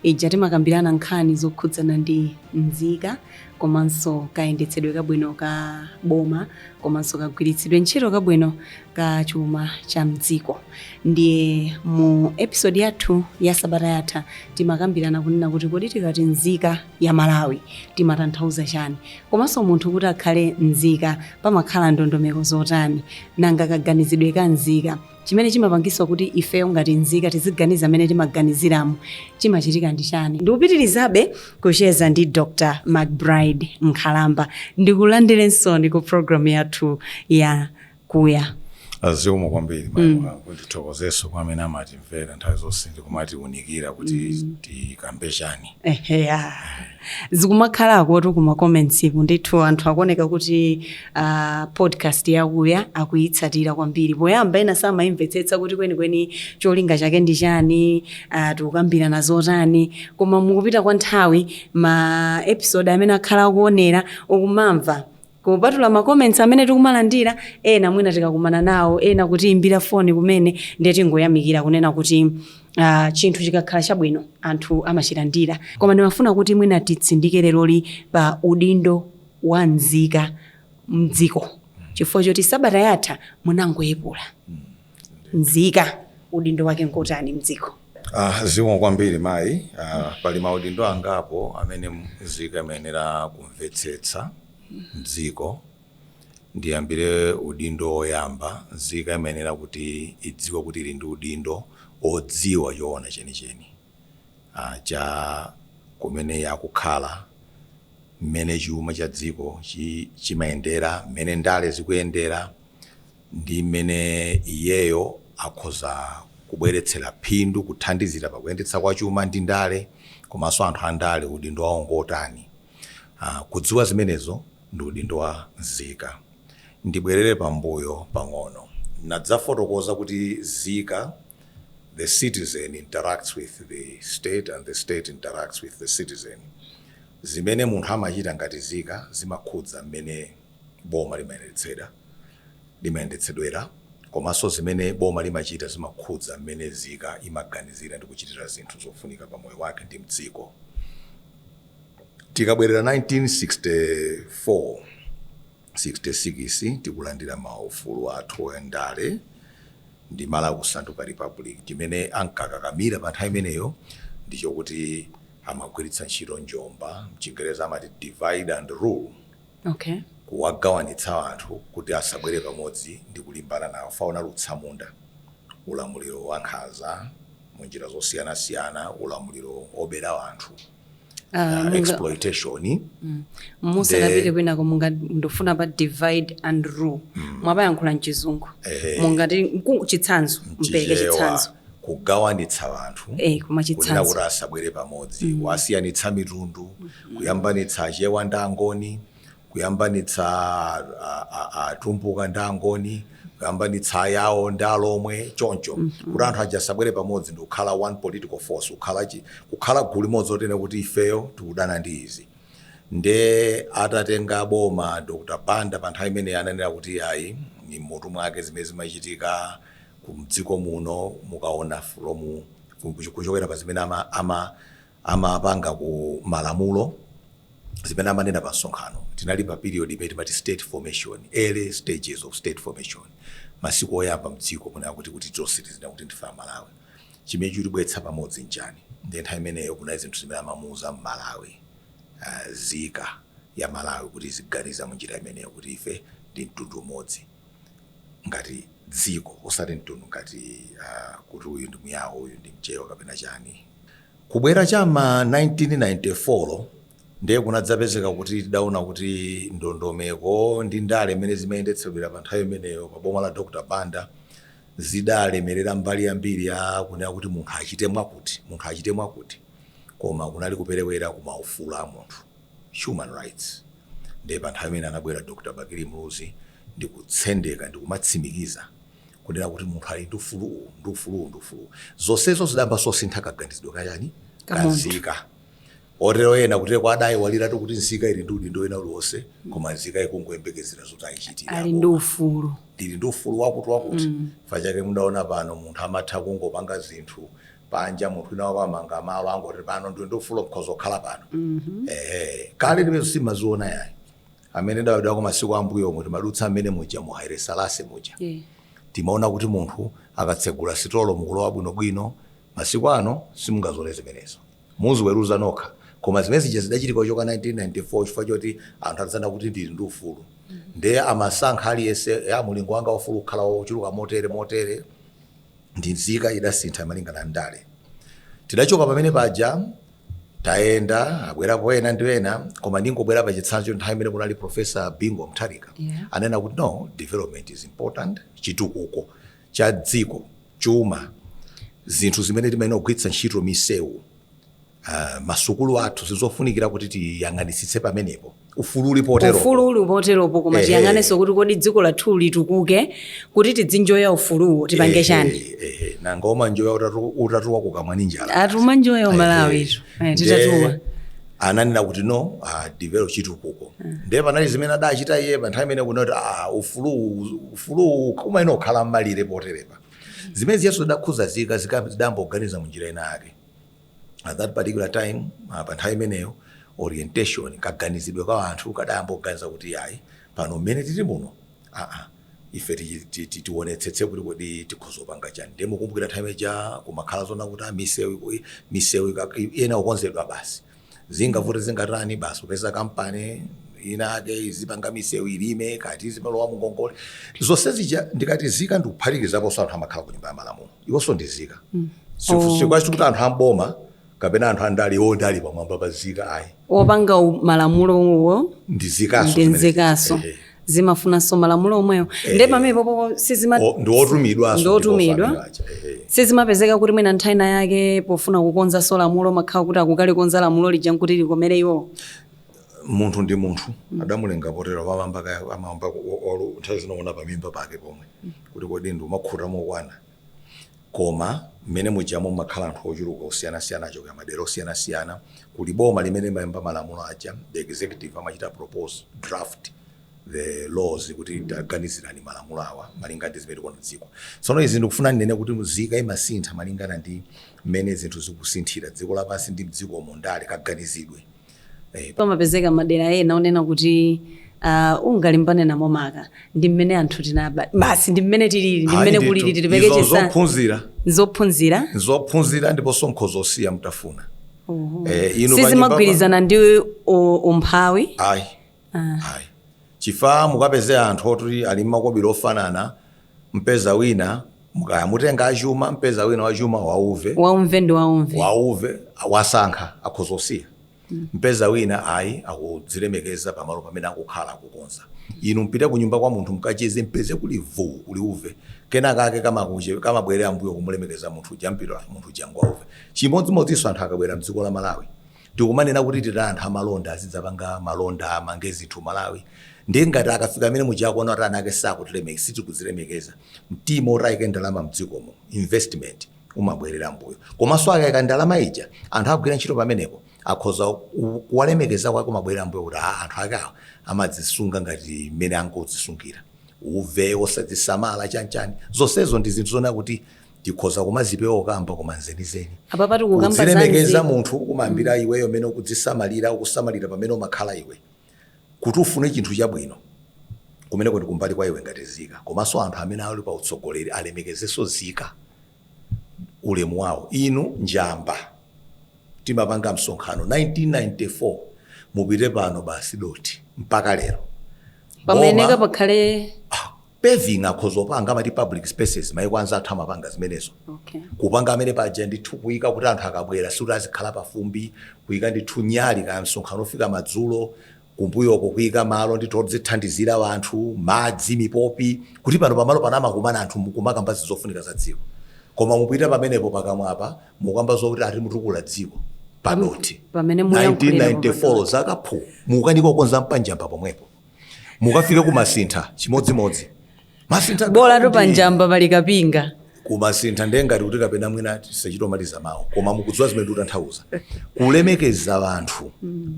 ija timakambirana nkhani zokhudzana ndi nzika komanso kayendetsedwe kabwino ka boma komanso kagwiritsidwe ntchito kabwino ka chuma cha mdziko ndiye mu episode yathu ya sabata yatha timakambirana kunena kuti kodi tikati nzika ya malawi timatanthauza chani komanso munthu kuti akhale nzika pamakhala ndondomeko zotani nanga kaganizidwe ka nzika Chimene chimapangitsa kuti ifeyo ngati nzika tiziganiza mmene timaganiziramu chimachitika ndi chani? Ndikupitilizabe kucheza ndi Dr. McBride Nkhalamba. Ndikulandireninso ku program yathu ya Kuya. Zikomo kwambiri mayi mm. ndithokozenso kwa amene amatimvera nthawi zonse ndikumatiunikira kuti mm. tikambe chani. Ehe, yeah. zikumakhalakotu ku ma comments ku ndithu anthu akuoneka kuti uh, podcast ya Kuya akuyitsatira kwambiri poyamba ena samayimvetsetsa kuti kwenikweni cholinga chake ndi chani uh, tikukambirana zotani koma mukupita kwa nthawi ma episode amene akhala akuonera ukumamva Kupatula ma comments amene tikumalandira, ena mwina tikakumana nawo, ena kutiyimbira foni kumene, ndiye tingoyamikira kunena kuti chinthu chikakhala chabwino anthu amachilandira. Koma ndimafuna kuti mwina titsindike leroli pa udindo wa nzika m'dziko chifukwa choti sabata yatha munangoyepula. nzika udindo wake nkotani mdziko Ah, zikomo kwambiri mayi ah, pali maudindo angapo amene mzika imayenera kumvetsetsa mdziko ndiyambire udindo woyamba mzika imayenera kuti idziwe kuti ili ndi udindo odziwa choona chenicheni cha kumene iye akukhala, mmene chuma cha dziko chimayendera, mmene ndale zikuyendera ndi mmene iyeyo akhoza kubweretsera phindu, kuthandizira pakuyendetsa kwa chuma ndi ndale komanso anthu a ndale udindo wawo ngotani. Kudziwa zimenezo ndi udindo wa nzika. Ndibwerere pambuyo pang'ono, nadzafotokoza kuti nzika. the citizen interacts with the state and the state interacts with the citizen zimene munthu amachita ngati nzika zimakhudza mmene boma limayendetsera limayendetsedwera komanso zimene boma limachita zimakhudza mmene nzika imaganizira ndi kuchitira zinthu zofunika pa moyo wake ndi mdziko tikabwerera 1964 66 tikulandira maufulu athu a ndale ndi Malawi kusanduka republic chimene ankakakamira pa nthawi imeneyo ndi chokuti amagwiritsa ntchito njomba m'Chingerezi amati divide and rule okay kuwagawanitsa anthu kuti asabwere pamodzi ndi kulimbana nawo pa ulamuliro wa tsamunda ulamuliro wankhanza mu njira zosiyanasiyana ulamuliro wobera anthu Ah, uh, exploitation mm. musanapite kwinako munga ndikufuna pa divide and rule mm. mwapayankhula mchizungu eh. mungatipatse chitsanzo mupereke chitsanzo kugawanitsa anthu eh, kunena kuti asabwere pamodzi mm. kuwasiyanitsa mitundu mm -hmm. kuyambanitsa achewa ndi angoni kuyambanitsa atumbuka ndi angoni kuyambanitsa ayawo ndi alomwe choncho mm -hmm. kuti anthu aja asabwere pamodzi ndikukhala one political force kukhala, chi, kukhala gulu limodzi onena kuti ifeyo tikudana ndi izi nde atatenga boma dr banda pa nthawi imeneyi ananena kuti ayi m'mutu mwake zimene zimachitika kumdziko muno mukaona from kuchokera pa zimene ama, ama amapanga ku malamulo, zimene amanena pa msonkhano. Tinali pa period imene timati state formation, early stages of state formation. Masiku oyamba mdziko kunena kuti kuti tonse tizinena kuti ndife a Malawi. Chimene chikutibweretsa pamodzi nchani? Ndiye nthawi imeneyo kunali zinthu zimene amamuuza mMalawi ah, nzika ya Malawi kuti iziganiza munjira imeneyo kuti ife ndi mtundu umodzi ngati dziko osati mtundu ngati ah, kuti uyu ndi muyawo uyu ndi mchewa kapena chani Kubwera cha m'ma 1994 ndiye kunadzapezeka kuti tidaona kuti ndondomeko ndi ndale zimene zimayendetsedwera pa nthawi imeneyo pa boma la Dr. Banda zidalemerera mbali yambiri ya kunena kuti munthu achite mwakuti, munthu achite mwakuti koma kunali kuperewera ku maufulu a munthu, human rights. Ndiye pa nthawi imene anabwera Dr. Bakili Muluzi ndi kutsendeka ndi kumatsimikiza kunena kuti munthu ali ndi ufulu uwu ndi ufulu uwu ndi ufulu uwu zonsezo zidayamba kusintha kaganizidwe kachani Ka munthu. kanzika kotero ena kuti adayiwaliratu kuti nzika ili ndi udindo wina uliwonse koma nzika ikungoyembekezera zoti ayichitira ali ndi ufulu ndili ndi ufulu wakuti wakuti chifukwa chake mudaona pano munthu amatha kungopanga zinthu panja munthu wina wake amanga malo angoti pano ndili ndi ufulu nkhoza kukhala pano ehe kale zimenezo simaziona yayi amene tidabadwako masiku ambuyomu timadutsa mmene muja mu Haile Selassie muja yeah. timaona kuti munthu akatsegula sitolo mukulowa bwinobwino masiku ano simungazione zimenezo muziweruza nokha koma zimene zija zidachitika kuchoka 1994 chifukwa choti anthu adaona kuti ndili ndi ufulu ndiye amasankha aliyense ya mulingo wanga wa ufulu kukhala wochuluka motere motere ndi nzika idasintha malingana ndi ndale tidachoka pamene paja tayenda abwerapo ena ndi ena koma ndingobwera pa chitsanzo nthawi imene kunali profesa Bingu Mutharika Yeah. anena kuti no development is important chitukuko cha dziko chuma zinthu zimene timayenera kugwiritsa ntchito misewu uh, masukulu athu zizofunikira kuti tiyang'anitsitse pamenepo ufulu uli potero ufulu uli poteropo koma Ehe. tiyang'anenso kuti kodi dziko lathu litukuke kuti tidzinjoya ufuluwo tipange chani nanga umanjoya utatu- utatuwa kukamwa ndi njala ati umanjoya umalawitu Eh, titatuwa Ndiye ananena kuti no ah, develop chitukuko ndiye panali zimene adachita iye pa nthawi imene kunoti ah, ufuluwu ufuluwu umayenera kukhala mmalire poterepa zimene izonso zidakhudza zika zika- zidayamba kuganiza mu njira ina yake at that particular time uh, pa nthawi imeneyo orientation kaganizidwe ka anthu kadayamba kuganiza kuti yayi pano mmene tili muno aa ife tichi- ti- ti- tionetsetse kuti kodi tikhoza kupanga chani ndiye mukumbukira nthawi ija kumakhala zonena kuti ah, misewu iku- misewu ika- iyenera kukonzedwa basi zingavute zingatani basi kupeza kampani inake izipanga misewu ilime kaya tizikalowa mungongole zonse zija ndikati zika ndikuphatikizaponso anthu amakhala ku nyumba ya malamulo iwonso ndi zika mm. sikuti oh. kuti anthu amboma kapena anthu andali ndiye ali pamwamba pa zika ayi opanga malamulowo ndi mzikanso zimafunanso malamulo omwewo eh. nde pamenepopo sizima- ndi otumidwa sizimapezeka kuti mwina nthawi ina yake pofuna kukonzanso lamulo amakhala kuti akukalikonza lamulo lija nkuti likomere iwowo munthu ndi munthu adamulenga potero amayamba kaya amayamba olu nthawi zina uona pamimba pake pomwe kuti kodi ndimakhuta mokwana koma mmene mujamo mumakhala anthu ochuluka osiyanasiyana achokera madera osiyanasiyana kuli boma limene limayamba malamulo aja the executive amachita propose draft the laws kuti taganizirani malamulo awa malinga ndi zimene tikuona dziko tsono izi ndikufuna ndinene kuti mzika imasintha malingana ndi mmene zinthu zikusinthira dziko lapansi ndi mdzikomo ndale kaganizidwe pamapezeka madera ena onena kuti ah, ungalimbane namo maka ndi mmene anthu tinabadwira basi ndi mmene tilili ndi mmene kulili tilibe kuchita zophunzira zophunzira zophunzira ndiponso nkhoza kusiya mutafuna Eh, inu sizimagwirizana ndi u- umphawi ayi ayi chifukwa mukapeze anthu oti ali ndi makobiri ofanana mpeza wina kaya mutenge achuma mpeza wina wachuma wauve waumve ndi waumve wauve wasankha akhoza kusiya mpeza wina ayi akudzilemekeza pamalo pamene akukhala akukonza inu mpite kunyumba kwa munthu mkacheze mpeze kuli vuu kuli uve kenakake kamakuche- kamabwerera mbuyo kumulemekeza munthu uja mpeza munthu uja ngwauve chimodzimodzinso anthu akabwera mdziko la malawi Tikumanena kuti titani anthu amalonda azidzapanga malonda amange zinthu Malawi ndiye ngati akafika mene muja akuona kuti ana ake sakutilemekeza sitikudzilemekeza mtima oti ayike ndalama mdzikomo investment umabwerera mbuyo komanso akaika ndalama ija anthu agwira ntchito pamenepo akhoza, kuwalemekeza kwake kumabwerera mbuyo kuti aa anthu ake awa amadzisunga ngati mmene angodzisungira uve osadzisamala chanichani zonsezo ndi zinthu zonena kuti tikhoza kumazipewa okamba koma nzenizeni Apapa tikukamba za kudzilemekeza nzeru. munthu kumayambira iweyo mmene ukudzisamalira ukusamalira pamene umakhala iwe kuti ufune chinthu chabwino kumeneko ndi kumbali kwa iwe ngati nzika komanso anthu amene ali pa utsogoleri alemekezenso nzika ulemu wawo inu njamba timapanga msonkhano 1994 mupite pano basi dothi mpaka lero Pamayenera Boma- pakhale paving akhoza kupanga amati public spaces maiko anzathu amapanga zimenezo Okay. kupanga amene paja ndithu kuyika kuti anthu akabwera sikuti azikhala pafumbi kuyika ndithu nyali kaya msonkhano ofika madzulo kumbuyoko kuyika malo ndithu odzithandizira anthu madzi mipopi kuti pano pamalo pano amakumana anthu mukumakamba zofunika za dziko koma mupita pamenepo pakamwapa mukamba zokuti ati mutukula dziko padothi Pamene muyankhulira 1994 zakaphu mukukanika kukonza panjamba pomwepo mukafike kumasintha chimodzimodzi masintha bolatu ndi- panjamba pali kapinga kumasintha ndiye ngati kuti kapena mwina tisachite kumaliza mawu koma mukudziwa zimene ndikutanthauza kulemekeza anthu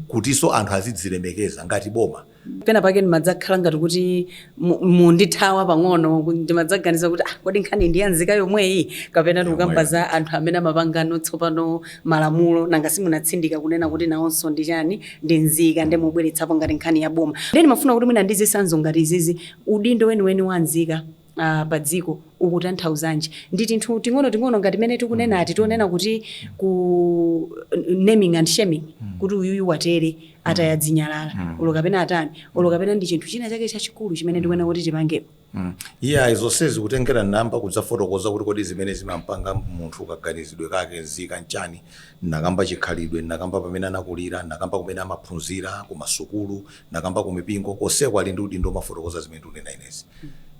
kutinso anthu azidzilemekeza ngati boma pena pake ndimadzakhala ngati kuti mu- mundithawa pang'ono ku- ndimadzaganiza kuti ah, kodi nkhani ndi ya nzika yomweyi kapena tikukamba za anthu amene amapanganso tsopano malamulo nanga simunatsindika kunena kuti nawonso ndi chani ndi nzika nde mubweretsapo ngati nkhani ya boma nde ndimafuna kuti mwina ndi zitsanzo ngati izizi udindo weniweni wa nzika Uh, pa dziko ukutanthauzanji ndi tinthu ting'onoting'ono ngati mene tikunena ati toonena kuti ku naming and shaming kuti uyuyu watere ataya zinyalala ulo kapena atani ulo kapena ndi chinthu china chake chachikulu chimene tikuyenera kuti tipangepo Mm. Iyayi zonsezi kutengera nayamba kudzafotokoza kuti kodi zimene zimampanga munthu kaganizidwe kake nzika nchani nakamba chikhalidwe nakamba pamene anakulira nakamba kumene amaphunzira ku masukulu nakamba ku mipingo konseko ali ndi udindo womafotokoza zimene tikunena inezi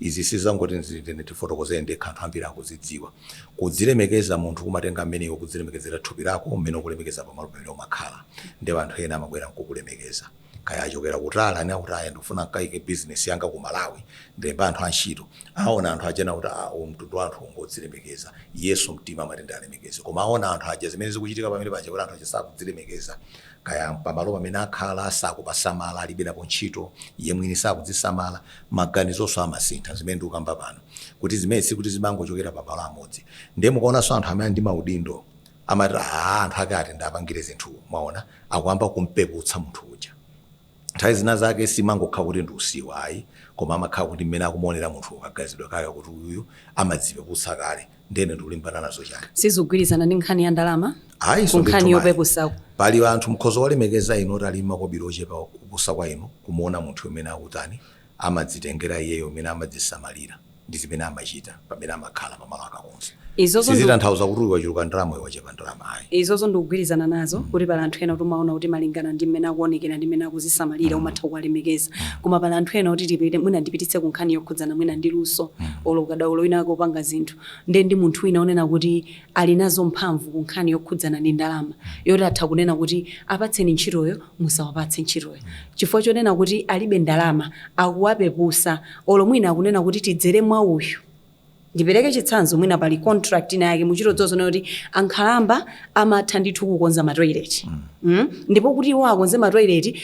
izi sizongoti nzitene ndifotokoze ndekha anthu ambiri akuzidziwa kudzilemekeza munthu kumatenga mmene iwe ukudzilemekezera thupi lako mmene ukulemekeza pamalo pamene umakhala ndipo anthu ena amabwera nkukulemekeza kaya achokera kutali anene kuti ayi ndikufuna nkaike business yanga ku Malawi ndilemba anthu antchito aona anthu aja na kuti a uwu mtundu wa anthu ngodzilemekeza iyenso mtima amati ndialemekeze koma aona anthu aja zimene zikuchitika pamene paja kuti anthu aja sakudzilemekeza kaya pamalo pamene akhala sakupasamala alibe napo ntchito iye mwini sakudzisamala maganizonso amasintha zimene ndikukamba pano kuti zimenezi sikuti zimangochokera pamalo amodzi ndiye mukaonanso anthu amene ali ndi maudindo amati aah anthu ake ati ndapangire zinthu mwaona akuyamba kumpeputsa munthu uja nthawi zina zake simangokhala kuti ndi usiwa ayi koma amakhala kuti mmene akumuonera munthu kaganizidwe kake kuti uyuyu amadzipeputsa kale ndene ndikulimbana nazo chani sizikugwirizana ndi nkhani ya ndalama ayi koma nkhani ndithu mayi. yopeputsako pali anthu mukhoza kuwalemekeza inu oti ali makobiri ochepa kupusa kwa inu kumuona munthu umene akutani amadzitengera iyeyo mmene amadzisamalira ndi zimene amachita pamene amakhala pamalo akakhala. Izozo ndi. Sizitanthauza kuti uyu wachuluka ndalama uyu wachepa ndalama ayi. Izozo ndikugwirizana nazo kuti pali anthu ena kuti umaona kuti malingana ndi mmene akuonekera ndi mmene akuzisamalira umatha kuwalemekeza. Koma pali anthu ena oti tipite mwina ndipititse ku nkhani yokhudzana mwina ndi luso olo ukadaulo wina wake wopanga zinthu. Ndiye ndi munthu wina onena kuti ali nazo mphamvu ku nkhani yokhudzana ndi ndalama yoti atha kunena kuti apatseni ntchitoyo musawapatse ntchitoyo chifukwa chonena kuti alibe ndalama akuwapepusa olo mwina akunena kuti tidzere mwa uyu ndipereke chitsanzo mwina pali contract ina yake muchita kuona kuti ankhalamba amatha ndithu kukonza matoilet mm. ndipo kuti iwo akonze matoilet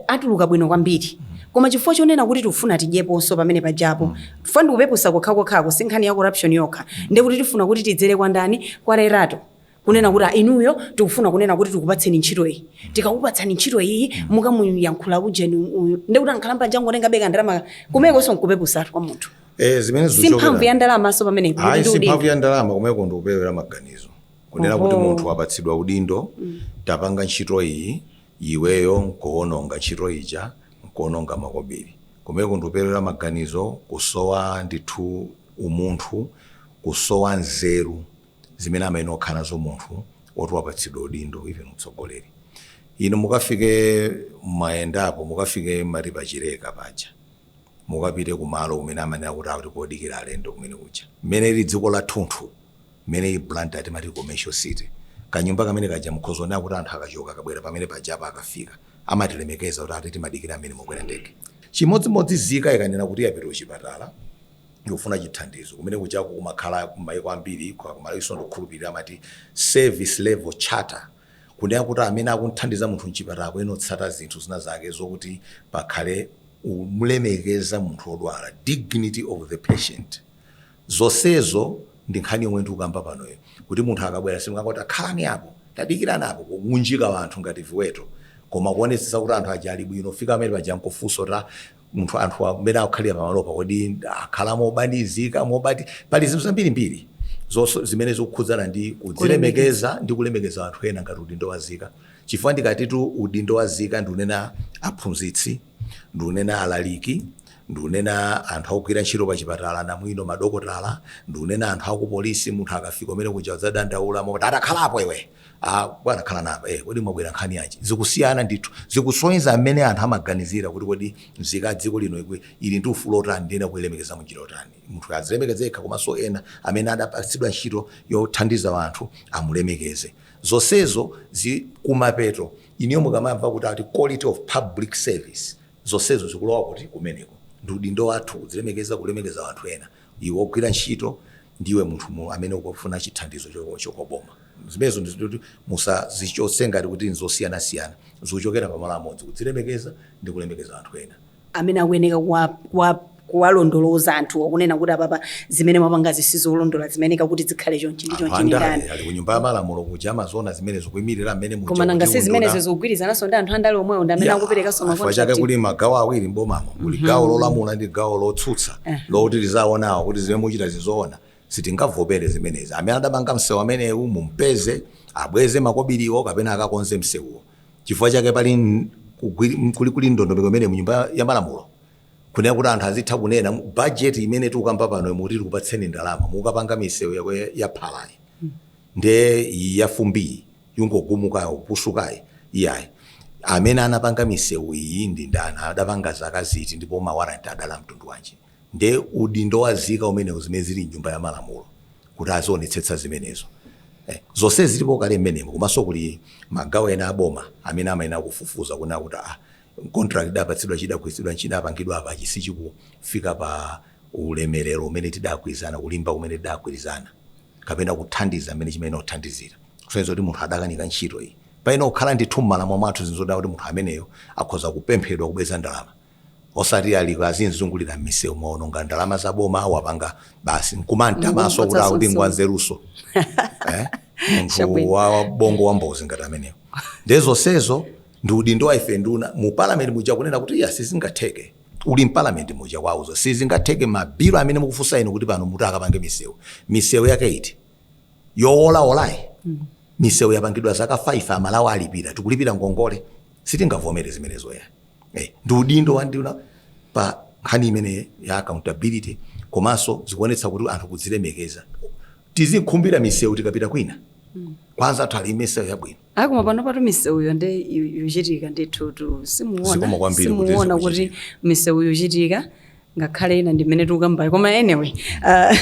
atuluka bwino kwambiri koma chifukwa chonena kuti tikufuna tidyeponso pamene pajapo chifukwa ndikupepusa kokhakokhaku si nkhani ya corruption yokha ndiye kuti tifuna kuti tidzere kwa ndani kwa Lerato kunena kuti "Ah, inuyo tikufuna kunena kuti tikupatseni ntchito iyi tikakupatsani ntchito iyi mukamuyankhula ujeni uyu ndiye kuti ankhalamba angotenga pang'ono ndalama kumekonso nkupepusatu kwa munthu Eh, zimene si mphamvu ya zikuchokera ndalamanso pamenepo ayi kuti si mphamvu udindo. ya ndalama kumeko ndi kuperewera maganizo kunena kuti Oho. munthu wapatsidwa udindo tapange ntchito iyi iweyo nkuononga ntchito ija nkuononga makobiri. Kumeneku ndi kuperewera maganizo, kusowa ndithu umunthu, kusowa nzeru zimene amayenera kukhala nazo munthu oti wapatsidwa udindo even utsogoleri. Inu mukafike mwayendapo, mukafike mmati pa Chileka paja, mukapite kumalo kumene amanena kuti akuti kodikira alendo kumene kuja, mmene lili dziko lathunthu, Mmene ili Blantyre timati commercial city. Kanyumba kamene kaja mukhoza ona kuti anthu akachoka akabwera pamene pajapa akafika amatilemekeza kuti ati timadikira amene mwakwera ndege. Chimodzi modzi nzika ikanena kuti yapita kuchipatala ikufuna chithandizo kumene kujako kumakhala mmaiko ambiri koma ku Malawiso ndikukhulupilira amati service level charter kunena kuti amene akuthandiza munthu mchipatala akuyenera kutsata zinthu zina zake zokuti pakhale kumlemekeza munthu odwala, dignity of the patient. Zonsezo ndi nkhani yomwe ndikukamba panoyo kuti munthu akabwera simukangoti ah khalani apo tadikirani apo kuunjika wanthu ngati viweto koma kuonetsetsa kuti anthu aja ali bwino kufika pamene paja nkufunsa kuti a munthu anthu amene akukhalira pamalopa kodi akhala mopanikizika bwanji pali zinthu zambirimbiri zonse zimene zikukhudzana ndi kudzilemekeza ndi kulemekeza wanthu ena ngati udindo wa nzika chifukwa ndikatitu udindo wa nzika ndikunena aphunzitsi ndikunena alaliki ndikunena anthu akugwira ntchito pa chipatala anamwino madokotala ndikunena anthu akupolisi munthu akafika mmene akudzadandaula moti atakhalapo iwe Ah, bwana khalani apa eh, kodi mwabwera nkhani yanji zikusiyana ndithu zikusonyeza mmene anthu amaganizira kuti kodi mzika ya dziko lino ikwe- ili ndi ufulu otani ndiyenera kuilemekeza munjira yotani munthu azilemekeze yekha komanso ena amene adapatsidwa ntchito yothandiza anthu amulemekeze Zonsezo zi, kumapeto, inuyo mukamamva kuti ati quality of public service, zonsezo zikulowa kuti? Kumeneko. Ndi udindo wathu kudzilemekeza, kulemekeza anthu ena, iwe wogwira ntchito ndi iwe munthu mu, amene ukufuna chithandizo chochoka kwa boma. Zimenezo ndi zoti musazichotse ngati kuti n'zosiyanasiyana, zikuchokera pamalo amodzi, kudzilemekeza ndi kulemekeza anthu ena. amene akuyeneka kuwa- kuwa- kuwalondoloza anthuwo kunena kuti apapa zimene mwapangazi sizolondola zimayeneka kuti zikhale chonchi ndi anthu chonchi ndi andale ndani ali ku nyumba ya malamulo kuja amaziona zimene zikuimirira amene muja koma nanga kuti si zimene unduna- zikugwirizananso ndi anthu andale omwewo ndi amene Ya, akuperekanso chifukwa chake makontrakt kuli magawo awiri mbomamo kuli gawo lolamula ndi gawo lotsutsa lokuti liziwaonawo kuti zimene mukuchita sizoona sitingavomere zimenezi amene adapanga msewu amenewu mumpeze abweze makobiriwo kapena akakonze msewuwo chifukwa chake pali n- kugwiri- kuli kuli ndondomeko imene mu nyumba ya malamulo kunena kuti anthu azitha kunena mu- budget imene tikukamba pano mukuti tikupatseni ndalama mukapanga misewu yake ya- ya phalayi nde iyi ya fumbiyi yongogumukayo kupusukayi iyayi amene anapanga misewu iyi ndi ndani adapanga zaka ziti ndipo mawaranti adali a mtundu wanji Nde udindo wa nzika umenewo zimene zili mnyumba ya malamulo kuti azionetsetsa zimenezo. Zonsezi zilipo kale mmenemo komanso kuli magawo ena a boma amene amayenera kufufuza kunena kuti aah contract idapatsidwa ija idagwiritsidwa ntchito idapangidwa apa ichi sichikufika pa ulemerero umene tidagwirizana kulimba kumene tidagwirizana kapena kuthandiza mmene chimayenera kuthandizira kusonyeza kuti munthu adakanika ntchito iyi. Payenera kukhala ndithu mmalamulo mwathu zinthu zonena kuti munthu ameneyo akhoza kupemphedwa kubweza ndalama. osati ali azingozungulira mmisewu waononga ndalama za boma wapanga basi nkumamtamanso kuti akuti ngwanzeruso eh? munthu wa bongo wa mbozi ngati ameneyo nde zonsezo ndi udindo wa ife nduna mu parliament muja kunena kuti iya sizingatheke uli mparliament muja wauza sizingatheke mabilo amene mukufuna inu kuti pano muti akapange misewu misewu yake iti yowolawolayi misewu yapangidwa zaka 5 amalawi alipira tikulipira ngongole sitingavomere zimenezo ya eh, ndi udindo wa nduna pa nkhani imene ya accountability komanso zikuonetsa kuti anthu kudzilemekeza tizikhumbira misewu tikapita kwina kwa anzathu ali misewu yabwino Ayi koma panopatu misewuyo nde yu- yuchitika ndithu simuona kuti zikuchitika. misewu yuchitika ngakhale ina ndimene tikukambayo koma anyway uh,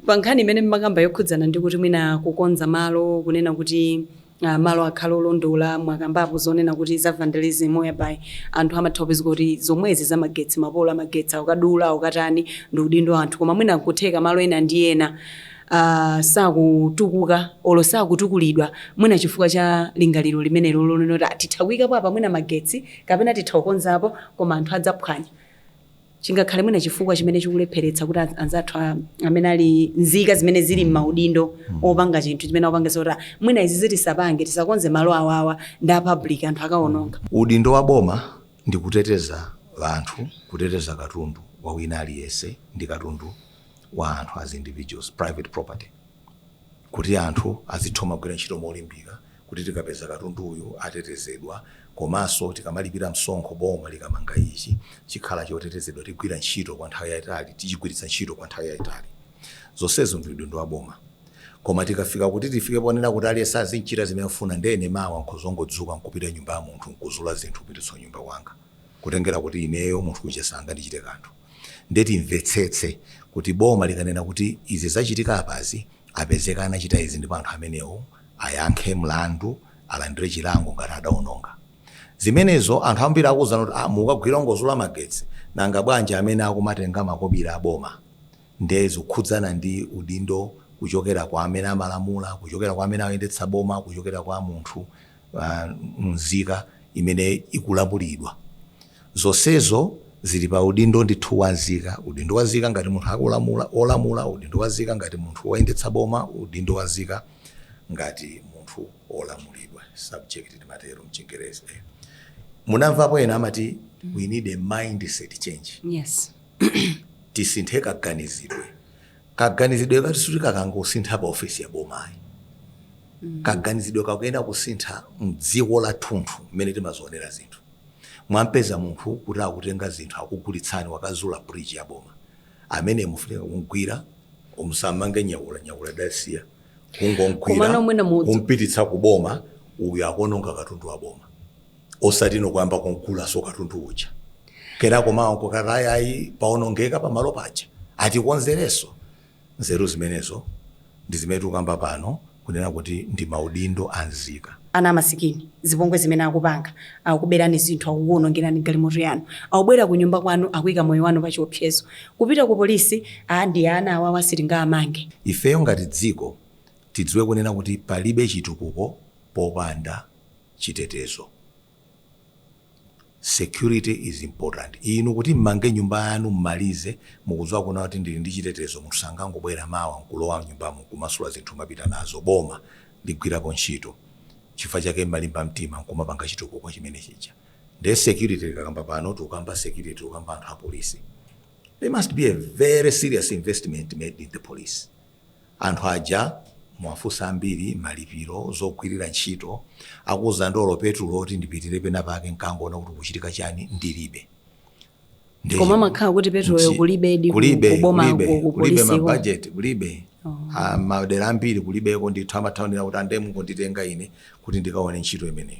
pa nkhani imene mmakamba yokhudzana ndi kuti mwina kukonza malo kunena kuti uh, malo akhale olondola mwakambapo zonena kuti za vandalism whereby anthu amatha kupezeka kuti zomwezi za magetsi mapolo amagetsi ukadula ukatani ndi udindo wa anthu koma mwina kutheka malo ena ndi ena sakutukuka olo sakutukulidwa mwina chifukwa cha lingaliro limenelo lonena kuti "Ah, titha kuyikapo apa mwina magetsi kapena titha kukonzapo koma anthu adzaphwanya chingakhale mwina chifukwa chimene chikulepheretsa kuti anz- anzathu a- amene ali mzika zimene zili m'maudindo opanga chinthu chimene akupanga zoti "Ah, mwina izi tisapange tisakonze malo awawa ndi a public anthu akawononga udindo wa boma ndi kuteteza anthu kuteteza katundu wa wina aliyense ndi katundu wa anthu as individuals, private property, kuti anthu azitha kumagwira ntchito molimbika kuti tikapeza katundu uyu atetezedwa komanso tikamalipira msonkho boma likamanga ichi chikhala chotetezedwa tigwire ntchito kwa nthawi yayitali tichigwiritsa ntchito kwa nthawi yayitali zonsezo ndi udindo wa boma koma tikafika kuti tifike ponena kuti aliyense azichita zimene afuna ndene mawa nkhuzongodzuka nkupita nyumba ya munthu nkuzula zinthu kupititsa nyumba kwanga kutengera kuti ineyo munthu uja sangandichite kanthu Ndiye timvetsetse kuti boma likanena kuti izi zachitika apazi, apezeka anachita izi ndipo anthu amenewo ayankhe mlandu, alandire chilango ngati adaononga. Zimenezo anthu ambiri akuuzana kuti, ah, mukugwira ongozula magetsi, nanga bwanji amene akumatenga makobiri a boma? Ndiye zikukhudzana ndi udindo kuchokera kwa amene amalamula, kuchokera kwa amene akuyendetsa boma, kuchokera kwa munthu, uh, nzika imene ikulamulidwa. Zonsezo zili pa udindo ndithu wa nzika, udindo wa nzika ngati munthu akulamula, wolamula, udindo wa nzika ngati munthu woyendetsa boma, udindo wa nzika ngati munthu wolamulidwa, subject timatero m'Chingerezi. Eh. Munamvapo ena amati we need a mindset change. Yes. Tisinthe kaganizidwe. Kaganizidwe kathu sikuti kakangosintha pa ofesi ya boma ayi. Kaganizidwe kakuyenera kusintha mdziko lathunthu mmene timazionera zinthu. mwampeza munthu kuti akutenga zinthu akugulitsani wakazula ku bridge ya boma ameneyo mukufunika kumgwira musammenye nyakula nyakula dasiya Komano kungomgwira mwina mudzi- kumpititsa ku boma uyu akuononga katundu wa boma osati inu kuyamba kumgulanso katundu uja kenako mawa nkukati ayi ayi paonongeka pamalo paja atikonzerenso Nzeru zimenezo ndi zimene tikukamba pano kunena kuti ndi maudindo a nzika. ana amasikini, zipongwe zimene akupanga, akukuberani zinthu, akukuonongerani galimoto yanu, akubwera kunyumba kwanu akuika moyo wanu pachiopsezo, kupita ku police aa ndi ana awawa sitingawamange. Ifeyo ngati dziko tidziwe kunena kuti palibe chitukuko popanda chitetezo. Security is important. Inu kuti mmange nyumba yanu mmalize mukudziwa kunena kuti ndili ndi chitetezo munthu sangangobwera mawa nkulowa mnyumbamo nkumasula zinthu nkumapita nazo. Boma ligwirapo ntchito. Nchifukwa chake mmalimba mtima nkumapanga chitukuko chimene chija. Ndiye security tikakamba pano tikukamba security tikukamba anthu apolisi. There must be a very serious investment made in the police. Anthu aja muwafunse ambiri malipiro, zogwirira ntchito, akuuzani kuti olo petulo oti ndipitire penapake nkangoona kuti kukuchitika chani ndilibe. Ndiye Koma chi- amakhala kuti petuloyo chi- kulibedi ku- kulibe, kuboma kulibe, ku- ku kulibe polisi ko. mabajeti kulibe Ah, madera ambiri kulibeko ndithu amathaonera kuti ande mungonditenga ine kuti ndikaone ntchito imeneyo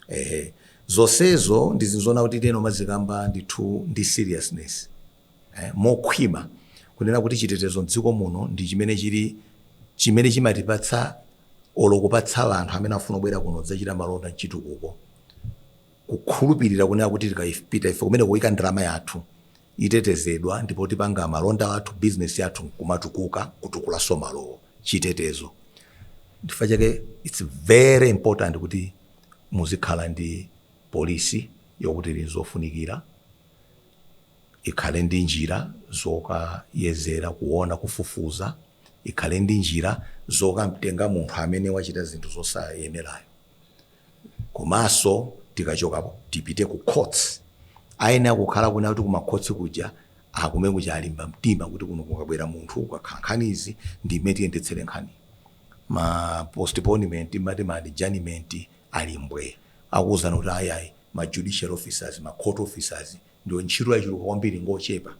ehe zonsezo ndi zinthu zoona kuti timayenera kumazikamba ndithu ndi seriousness mokhwima kunena kuti chitetezo m'dziko muno ndi chimene chili chimene chimatipatsa olo kupatsa anthu amene afuna kubwera kuno kudzachita malonda mchitukuko kukhulupirira kunena kuti tikapita ife kumene kuika ndalama yathu itetezedwa ndipo tipanga malonda athu business yathu kumatukuka kutukulanso malowo chitetezo nchifukwa chake it's very important kuti muzikhala ndi polisi yokuti ili nzofunikira ikhale ndi njira zokayezera, kuona, kufufuza, ikhale ndi njira zokamtenga munthu amene wachita zinthu zosayenerayo, komanso tikachokapo tipite ku courts. Ayenera kukhala kunena kuti kumakhotsi kuja akumene kuja alimba mtima kuti kuno kukabwera munthu ukakhala nkhani izi ndi mmene tiyendetsere nkhani ma postponement mati ma adjournment ali mbwe akuwuzana kuti ayayi ma judicial officers ma court officers ndiwo ntchito yachuluka kwambiri ngochepa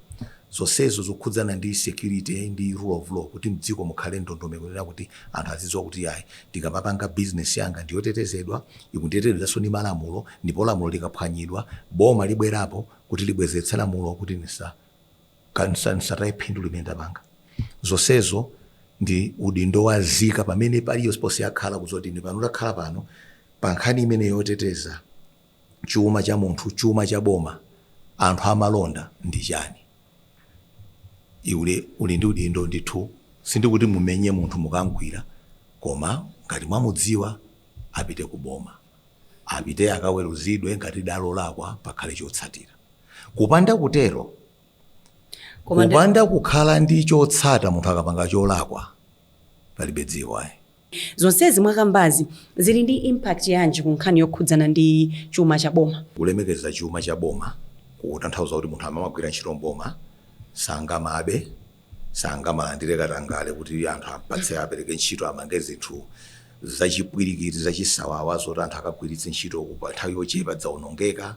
zonsezo zokhudzana ndi security ndi rule of law kuti mdziko mukhale ndondomeko yonena kuti anthu azidziwa kuti yayi ndikamapanga business yanga ndiyotetezedwa ikutetezedwanso ndi malamulo ndipo lamulo likaphwanyidwa boma libwerapo kuti libwezeretse lamulo kuti nisa kansataye phindu limene ndapanga zonsezo ndi udindo wa nzika pamene paliyo siponse yakhala kuzoti ndi pano takhala pano pa nkhani imene yoteteza chuma cha munthu, chuma cha boma, anthu amalonda ndi chani? Iwe uli ndi udindo ndithu sindikuti mumenye munthu mukamgwira koma ngati mwamudziwa apite ku boma. Apite akaweruzidwe ngati adalakwa pakhale chotsatira. Kupanda kutero, kupanda kukhala ndi chotsata munthu akapanga cholakwa palibe dziko ayi. Zonsezi mwakambazi zili ndi impact yanji ku nkhani yokhudzana ndi chuma cha boma? Kulemekeza chuma cha boma kutanthauza kuti munthu amagwira ntchito m'boma sangamabe, sangamalandire katangale kuti anthu ampatse apereke ntchito amange zinthu zachipwirikiti zachisawawa zoti anthu akagwiritse ntchito ku pa nthawi yochepa dzaonongeka.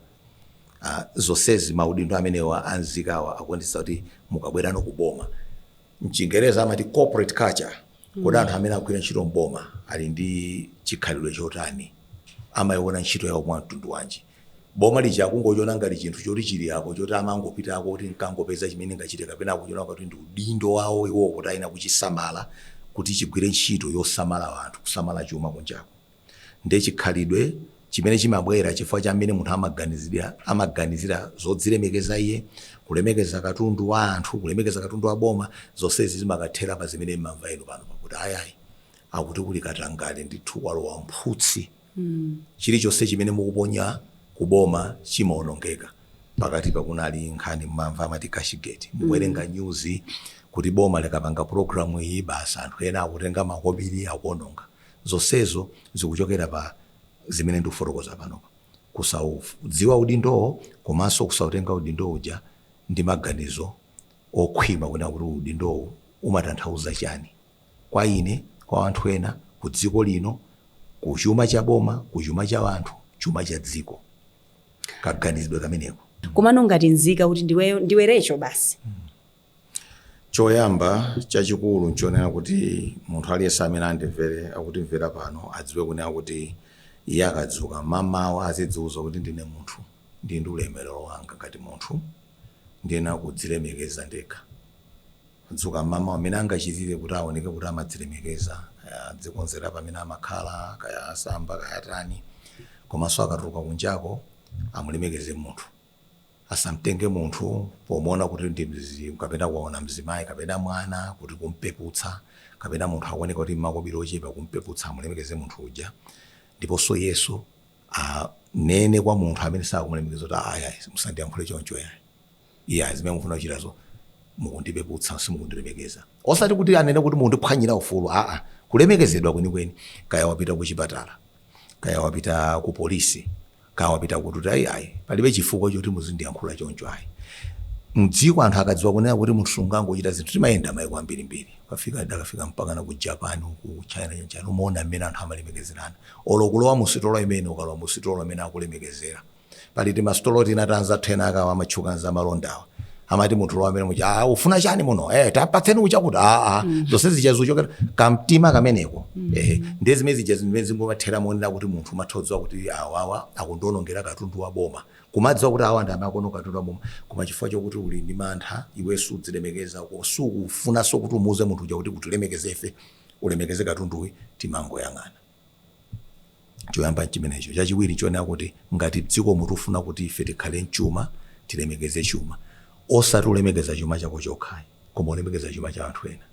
Zonsezi maudindo amenewa a nzikawa akuonetsetsa kuti mukabwerano ku boma, M'chingereza amati corporate culture. Kuti anthu amene akugwira ntchito m'boma ali ndi chikhalidwe chotani? Amaiona ntchito yawo mwa mtundu wanji? Boma lija akungochiona ngati chinthu choti chili apo choti amangopitako kuti nkangopeza chimene ndingachite kapena akuchiona ngati kuti ndi udindo wawo iwowo kuti ayenera kuchisamala kuti chigwire ntchito yosamala anthu, kusamala chuma kunjako? Ndi chikhalidwe chimene chimabwera chifukwa cha mmene munthu amaganizira zodzilemekeza iye, kulemekeza katundu wa anthu, kulemekeza katundu wa boma, zonsezi zimakathera pa zimene mmamva inu pano pakuti ayi ayi akuti kuli katangale ndithu walowa mphutsi. Chilichonse chimene mukuponya ku boma chimaonongeka. Pakatipa kunali nkhani mmamva amati cashgate. Mukuwerenga news kuti boma likapanga program iyi basi anthu ena akutenga makobiri akuononga. Zonsezo zikuchokera pa zimene ndikufotokoza panopa. Kusaudziwa udindowo komanso kusautenga udindo uja ndi maganizo okhwima kunena kuti udindowu umatanthauza chani kwa ine, kwa anthu ena, ku dziko lino, ku chuma cha boma, ku chuma cha anthu, chuma cha dziko. Kaganizidwe kameneko. Komano ngati nzika kuti iweyo, ndiwe Recho basi. Choyamba chachikulu nchonena kuti munthu aliyense amene andimvere, akutimvera pano, adziwe kunena kuti iye akadzuka mamawa azidziuza kuti ndine munthu, ndili ndi ulemerero wanga ngati munthu, ndiyenera kudzilemekeza ndekha. Adzuka mamawa mmene angachitire kuti aoneke kuti amadzilemekeza, kaya adzikonzera pamene amakhala, kaya asamba, kaya atani, komanso akatuluka kunjako amulemekeze munthu. Asamtenge munthu pomuona kuti ndi mzimu kapena waona mzimayi kapena mwana kuti kumpeputsa kapena munthu akuoneka kuti mmakobiri ochepa kumpeputsa amulemekeze munthu uja ndiponso iyeyo anene kwa munthu amene sakumulemekeza kuti ayi ayi musandiyankhule choncho yayi iya zimene mukufuna kuchitazo mukundipeputsa simukundilemekeza osati kuti anene kuti mukundiphwanyira ufulu aa kulemekezedwa kwenikweni kaya wapita kuchipatala kaya wapita ku polisi kaya wapita kuti ayi ayi palibe chifukwa choti muzindiyankhula choncho ayi mdziko anthu akadziwa kunena kuti munthu sungangochita zinthu timayenda maiko ambirimbiri ukafika ndakafika mpakana ku japan ku china chonchani umaona mmene anthu amalemekezerana olo kulowa musitolo mmene ukalowa musitolo mmene akulemekezera pali timasitolo tina ta anzathu ena akawa amatchuka za malondawa amati munthu lowa amene muja "Ah, ufuna chani muno eh, tapatseni uchakuti aa zonse zija zochokera kamtima kameneko eh, ndiye zimene zija zimene zingomathera monena kuti munthu umatha kudziwa kuti awawa akutionongera katundu wa boma kumadziwa kuti awa ndi amaononga katundu wa boma koma chifukwa chokuti uli ndi mantha iwe sudzilemekeza ko sukufunanso kuti umuuze munthu uja kuti utilemekezefe ulemekeze katunduyu timangoyang'ana Choyamba n'chimenecho. Chachiwiri n'chonena kuti ngati m'dzikomu tikufuna kuti ife tikhale n'chuma, tilemekeze chuma. Osati ulemekeza chuma chako chokha ayi, koma ulemekeza chuma cha anthu ena.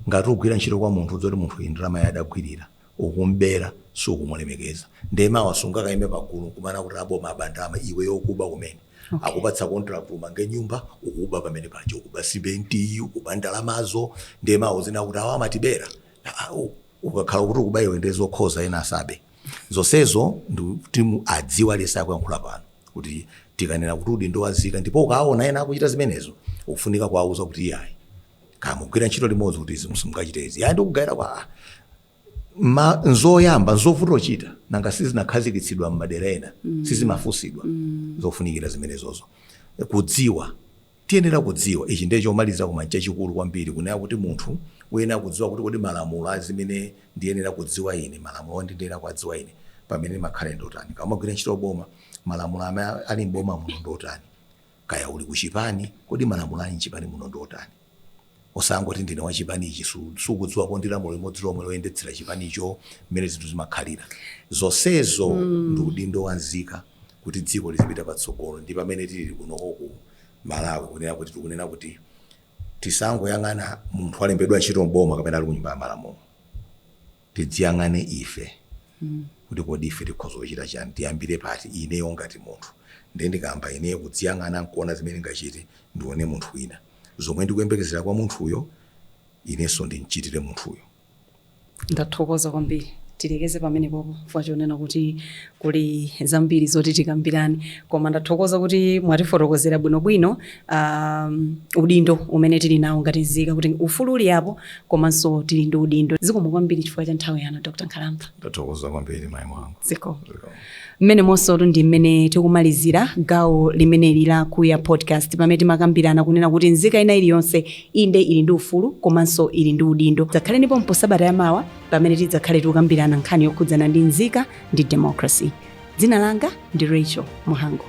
Ngati ukugwira ntchito kwa munthu udziwa kuti munthu uyu ndalamayi adagwirira, ukum'bera, sukumulemekeza. Ndiye mawa sungakaime pagulu n'kumanena kuti aboma aba ndalama, iweyo ukuba kumene. Okay. Akupatsa contract umange nyumba, ukuba pamene paja. Ukuba simentiyi, ukuba ndalamazo, ndiye mawa uzinena kuti awa amatibera. ukakhala kuti ukuba iwe ndiye zokhoza ena asabe zonsezo ndikuti mu- adziwe aliyense akuyankhula pano kuti tikanena kuti udindo wa nzika ndipo ukaona ena akuchita zimenezo ukufunika kuwauza kuti iyayi kaya mugwira ntchito limodzi kuti izi simungachite izi yayi ndikugayira kwa ah, ma nzoyamba nzovuta kuchita nanga sizinakhazikitsidwa m'madera ena sizimafunsidwa zofunikira zimenezozo kudziwa Tiyenera kudziwa, ichi ndiye chomaliza koma n'chachikulu kwambiri, kunena kuti munthu uyenera kudziwa kuti kodi malamulo a zimene ndiyenera kudziwa ine, malamulo oti ndiyenera kuwadziwa ine pamene ndimakhala ine ndi otani. Kaya umagwira ntchito m'boma, malamulo amene ali m'boma muno ndi otani? Kaya uli ku chipani, kodi malamulo ali m'chipani muno ndi otani? Osangoti ndine wa chipani ichi, sukudziwako ndi lamulo limodzi lomwe loyendetsera chipanicho mmene zinthu zimakhalira. Zonsezo ndi udindo wa nzika kuti dziko lizipita patsogolo ndi pamene tilili kunoko ku Malawi kunena kuti tikunena kuti tisangoyang'ana munthu walembedwa ntchito m'boma kapena ali ku Nyumba ya Malamulo. Tidziyang'ane ife kuti kodi ife tikhoza kuchita chani, tiyambire pati, ineyo ngati munthu. Ndiye ndikayamba ineyo kudziyang'ana nkuona zimene ndingachite, ndione munthu wina. Zomwe ndikuyembekezera kwa munthuyo, inenso ndimchitire munthuyo. Ndathokoza kwambiri. Tilekeze pamenepo chifukwa chonena kuti Kuli zambiri zoti tikambirane koma ndathokoza kuti mwatifotokozera bwinobwino aah udindo umene tili nawo ngati nzika kuti ufulu uli apo komanso tili ndi udindo. Zikomo kwambiri chifukwa cha nthawi yanu Dr Nkhalamba. Ndathokoza kwambiri mai mwanga. Zikomo. Zikomo. Mmenemutu ndi mmene tikumalizira gawo limeneli la Kuya Podcast pamene timakambirana kunena kuti nzika ina iliyonse inde ili ndi ufulu komanso ili ndi udindo. Dzakhaleniponso sabata ya mawa. pamene tidzakhale tikukambirana nkhani yokhudzana ndi mzika ndi democracy. Dzina langa ndi Rachel Muhango.